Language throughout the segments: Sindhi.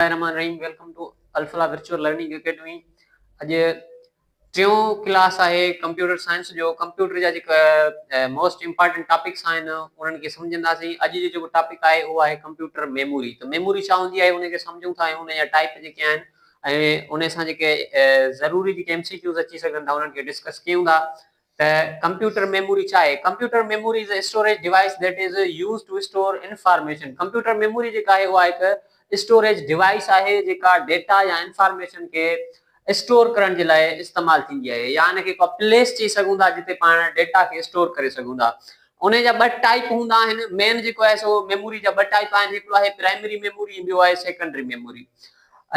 بسم الله الرحمٰن الرحيم welcome to Al-Falah virtual learning academy اڄ ٽيون ڪلاس آهي ڪمپيوٽر سائنس جو ڪمپيوٽر جا جيڪا موسٽ امپارٽنٽ ٽاپڪس آهن انهن کي سمجهنداسين اڄ جو جيڪو ٽاپڪ آهي اهو آهي ڪمپيوٽر ميموري ته ميموري ڇا هوندي آهي ان کي سمجهون ٿا ۽ ان جا ٽائپ جيڪي آهن ۽ ان سان جيڪي ضروري جيڪي ايم سي ڪيوز اچي سگهن ٿا انهن کي ڊسڪس ڪيون ٿا ته ڪمپيوٽر ميموري ڇا آهي؟ Computer memory is a storage device that is used to store information computer memory جيڪا آهي اها هڪ اسٽوريج ڊيوائيس آهي جيڪا ڊيٽا يا انفارميشن کي اسٽور ڪرڻ جي لاء استعمال ٿيندي آهي يا ان کي ڪو پليس چئي سگهون ٿا جتي پاڻ ڊيٽا کي اسٽور ڪري سگهون ٿا انهي جا ٻه ٽائيپ هوندا آهن مين جيڪو آهي سو ميموري جا ٻه ٽائيپ آهن هڪڙو آهي پرائمري ميموري ۽ ٻيو آهي سيڪنڊري ميموري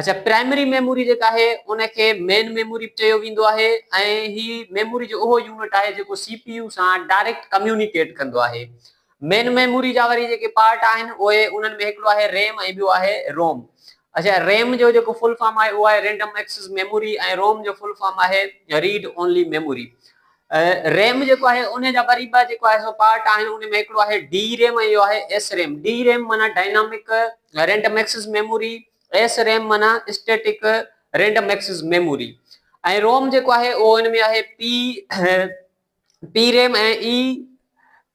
اچا پرائمري ميموري جيڪا آهي ان کي مين ميموري به چيو ويندو آهي ۽ هي ميموري جو اهو يونٽ آهي جيڪو سي پي يو سان ڊائريڪٽ ڪميونيڪيٽ ڪندو آهي. مين ميموري جا وري جيڪي پارٽ آهن اهي انهن ۾ هڪڙو آهي ريم ۽ ٻيو آهي روم. اچا ريم جو جيڪو فل فارم آهي اهو آهي رينڊم ايڪسس ميموري ۽ روم جو فل فارم آهي ريڊ اونلي ميموري. ريم جيڪو آهي انهي جا وري ٻه جيڪو آهي سو پارٽ آهن ان ۾ هڪڙو آهي ڊي ريم ۽ ٻيو آهي ايس ريم ڊي ريم معنيٰ dynamic random access memory S RAM معنيٰ static random access memory ۽ ROM جيڪو آهي اهو ان ۾ آهي P P RAM ۽ E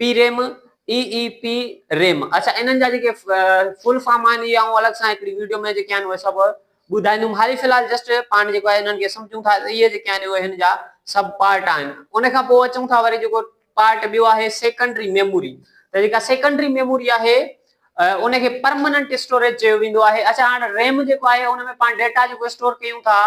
P RAM E E P RAM اچا انهن جا جيڪي فل فارم آهن اهي آئون الڳ سان هڪڙي ويڊيو ۾ جيڪي آهن اهي سڀ ٻڌائيندم هالي في الحال جسٽ پاڻ جيڪو آهي انهن کي سمجهون ٿا ته اهي جيڪي آهن اهي هن جا سب پارٽ آهن ان کان پوء اچون ٿا وري جيڪو پارٽ ٻيو آهي سيڪنڊري ميموري ته جيڪا سيڪنڊري ميموري آهي ان کي پرماننٽ اسٽوريج چيو ويندو آهي اچا هاڻ ريم جيڪو آهي ان ۾ پاڻ ڊيٽا جيڪو اسٽور ڪيون ٿا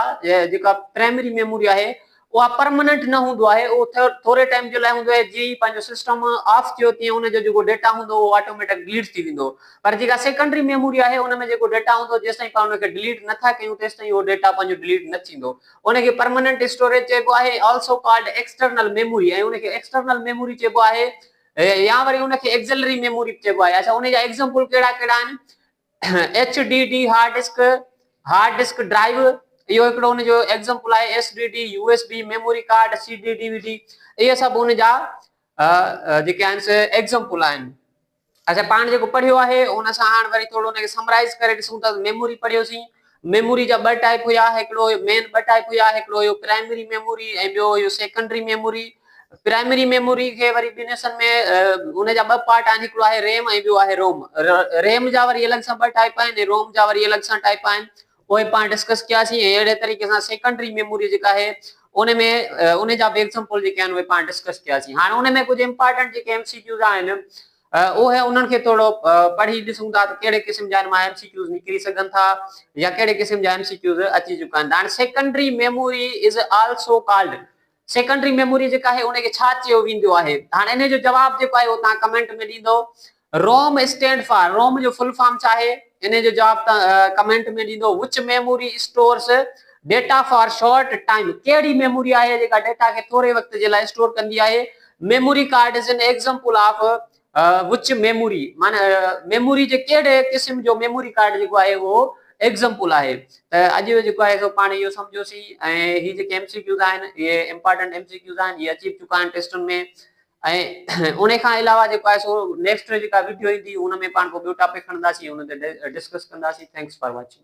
جيڪا پرائمري ميموري آهي اها پرماننٽ نه هوندو آهي اهو ٿوري ٽائيم جي لاء هوندو آهي جيئن ئي پنهنجو سسٽم آف ٿيو تيئن ان جو جيڪو ڊيٽا هوندو اهو آٽوميٽڪ ڊليٽ ٿي ويندو پر جيڪا سيڪنڊري ميموري آهي ان ۾ جيڪو ڊيٽا هوندو جيستائين پاڻ ان کي ڊليٽ نه ٿا ڪيون تيستائين اهو ڊيٽا پنهنجو ڊليٽ نه ٿيندو ان کي پرماننٽ اسٽوريج چئبو آهي آلسو ڪالڊ ايڪسٽرنل ميموري ۽ ان کي ايڪسٽرنل ميموري چئبو آهي يا وري ان کي ايڪزلري ميموري به چئبو آهي اڇا ان جا ايگزامپل ڪهڙا ڪهڙا آهن H D D hard disk, Hard Disk Drive، اهو هڪڙو ان جو ايگزمپل آهي، S D D, U S B, memory card, C D D V D اهي سڀ ان جا جيڪي آهن سي ايگزمپل آهن. اسين پاڻ جيڪو پڙهيو آهي ان سان هاڻ وري ٿورڙو ان کي سمرائز ڪري ڏسون ٿا ته ميموري پڙهيوسين ميموري جا ٻه ٽائيپ هيا، هڪڙو هيو مين ٻه ٽائيپ هيا، هڪڙو هيو پرائمري ميموري ۽ ٻيو هيو سيڪنڊري ميموري. پرائمري ميموري کي وري ٻن حصن ۾ ان جا ٻه پارٽ آهن هڪڙو آهي ريم ۽ ٻيو آهي روم. ريم جا وري الڳ سان ٻه ٽائيپ آهن ۽ روم جا وري الڳ سان ٽائيپ آهن اهي پاڻ ڊسڪس ڪياسين ۽ اهڙي طريقي سان سيڪنڊري ميموري جيڪا آهي ان ۾ ان جا به ايگزامپل جيڪي آهن اهي پاڻ ڊسڪس ڪياسين. هاڻ ان ۾ ڪجهه امپارٽنٽ جيڪي ايم سي ڪيوز آهن اهي انهن کي ٿورو پڙهي ڏسون ٿا ته ڪهڙي قسم جا هن مان ايم سي ڪيوز نڪري سگهن ٿا يا ڪهڙي قسم جا ايم سي ڪيوز اچي چڪا آهن ته هاڻي secondary memory is also called secondary memory جيڪا آهي ان کي ڇا چيو ويندو آهي هاڻي انهي جو جواب جيڪو آهي اهو توهان ڪمينٽ ۾ ڏيندو روم اسٽينڊ فار روم جو فل فارم ڇا آهي انهي جو جواب توهان ڪمينٽ ۾ ڏيندو which memory stores data for short time ڪهڙي ميموري آهي جيڪا ڊيٽا کي ٿوري وقت جي لاء اسٽور ڪندي آهي memory card is an example of which memory معنيٰ ميموري جي ڪهڙي قسم جو ميموري ڪارڊ جيڪو آهي اهو ايگزمپل آهي ته اڄ جيڪو آهي سو پاڻ اهو سمجهيوسين ۽ هي جيڪي ايم سي ڪيوز آهن اهي امپارٽنٽ ايم سي ڪيوز آهن اهي اچي به چڪا آهن ٽيسٽن ۾ ۽ ان کان علاوه جيڪو آهي سو نيڪسٽ جيڪا ويڊيو ايندي ان ۾ پاڻ ڪو ٻيو ٽاپڪ کڻنداسين ان تي ڊسڪس ڪنداسين ٿينڪس فار واچنگ